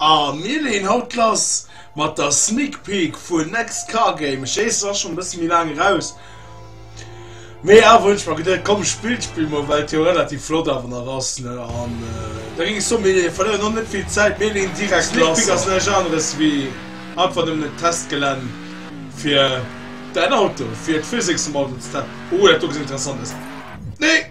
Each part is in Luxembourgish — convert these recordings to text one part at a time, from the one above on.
A mir leeën haut lass mat der Sneak Peek vun Next Car Game. Ech weess, et ass schonn e bësse méi laang eraus, mee awer hunn ech mer geduet, komm, ech spillen d'Spill mol, well et jo relativ flott awer nach ass, ne? An da géing ech soen, mir verléieren och net vill Zäit, mir leeën direkt lass. D'Sneak Peek ass näischt aneres wéi einfach nëmmen en Testgelänn fir däin Auto, fir d'Physics vum Auto ze testen. Oh, dat do gëtt interessant aus. Nee!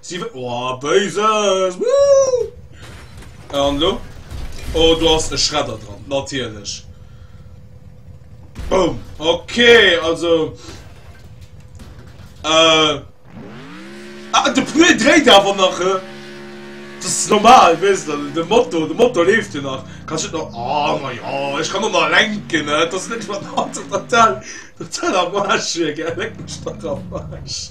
Si wëll. Oh, Béises! Wouh! An elo? Oh, do ass e Schredder dran, natierlech. Boom! Okay, also. Äh. Ah, de Pneu dréit awer nach, hä? Das ist normal, weißt du, der Motor, der Motor lebt ja nach. Kannst du noch, oh, na ja, ich kann noch mal lenken, ne? Das ist nicht mal total, total am Arsch, gell? Leck mich doch am Arsch.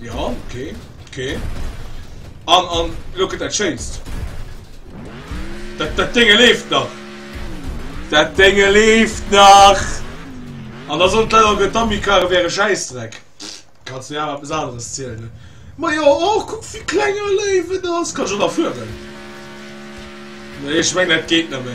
Ja, okay, okay. An, an, look at that changed. Dat, dat Dinge lebt nach. Dat Dinge lebt nach. An da sollt leider der Dummykarre wäre Scheißdreck. Kannst du ja etwas anderes zählen. Ne? Ma ja, oh, guck, wie kleiner Leben das. Kannst du da führen? Nee, ich meine, das geht nicht mehr.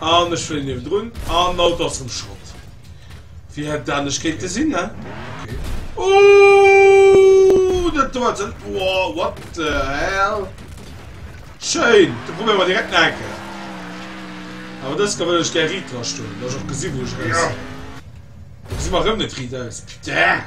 An ech fléien niewendrun an den Auto ass erëm Schrott. Wéi hätt et anescht kéinte sinn, ne? Okay. Ooh! Dat do hat se. Wow, what the hell? Schéin! Da probéiere mer direkt nach eng Kéier. Awer dës Kéier wëll ech gär riit drastoen, dass ech och gesi wou ech eraus wëll. Elo gesi mer erëm net riit aus. Putain!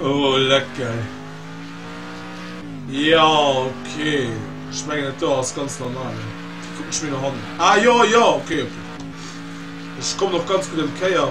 Oh leck geil. Jo ok ech mengen et do ass ganz normal hei kucken ech mir nach an ah jo jo ok ok ech kommen och ganz gudd ëm d'Kéier.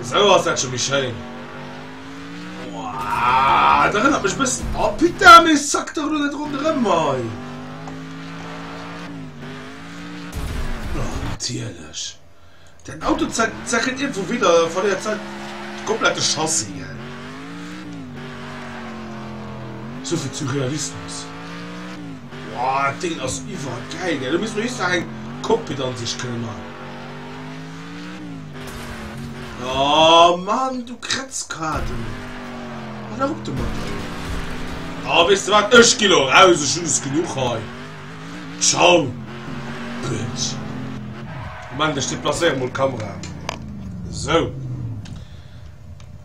Esou ass dat scho méi schéin. Wouah, et erënnert mech e bëssen. Oh putain, mee ech zack dach elo net ronderëm hei. Oh natierlech, dat Auto zackelt iergendwou widder, verléiert seit de komplette Chassis. Esou vill Surrealismus. Woah deen ass iwwer geil gell, do misst mer just nach eng Cockpitansicht kënne man. Oh Mann du Kretzkaarten, hâl dach op domatter jo. Oh weess de wat, ech gi lo raus, ech hun es genuch hei, ciao Bëtsch. Moment ech deplacéieren mol d'Kamera, sou.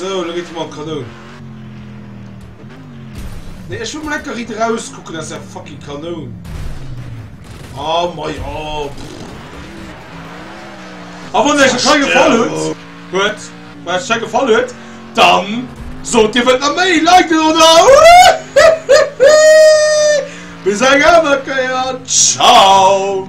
So, elo geet et mol an d'Kanoun. Nee, ech wëll mol lecker Ritt erauskucken aus der fucking Kanoun. Oh mei, oh. A wann euch scho gefall huet, huet, wann euch scho gefall huet, dann sot dir wëllt nach méi liken oder? Bis eng aner Kéier, ciao.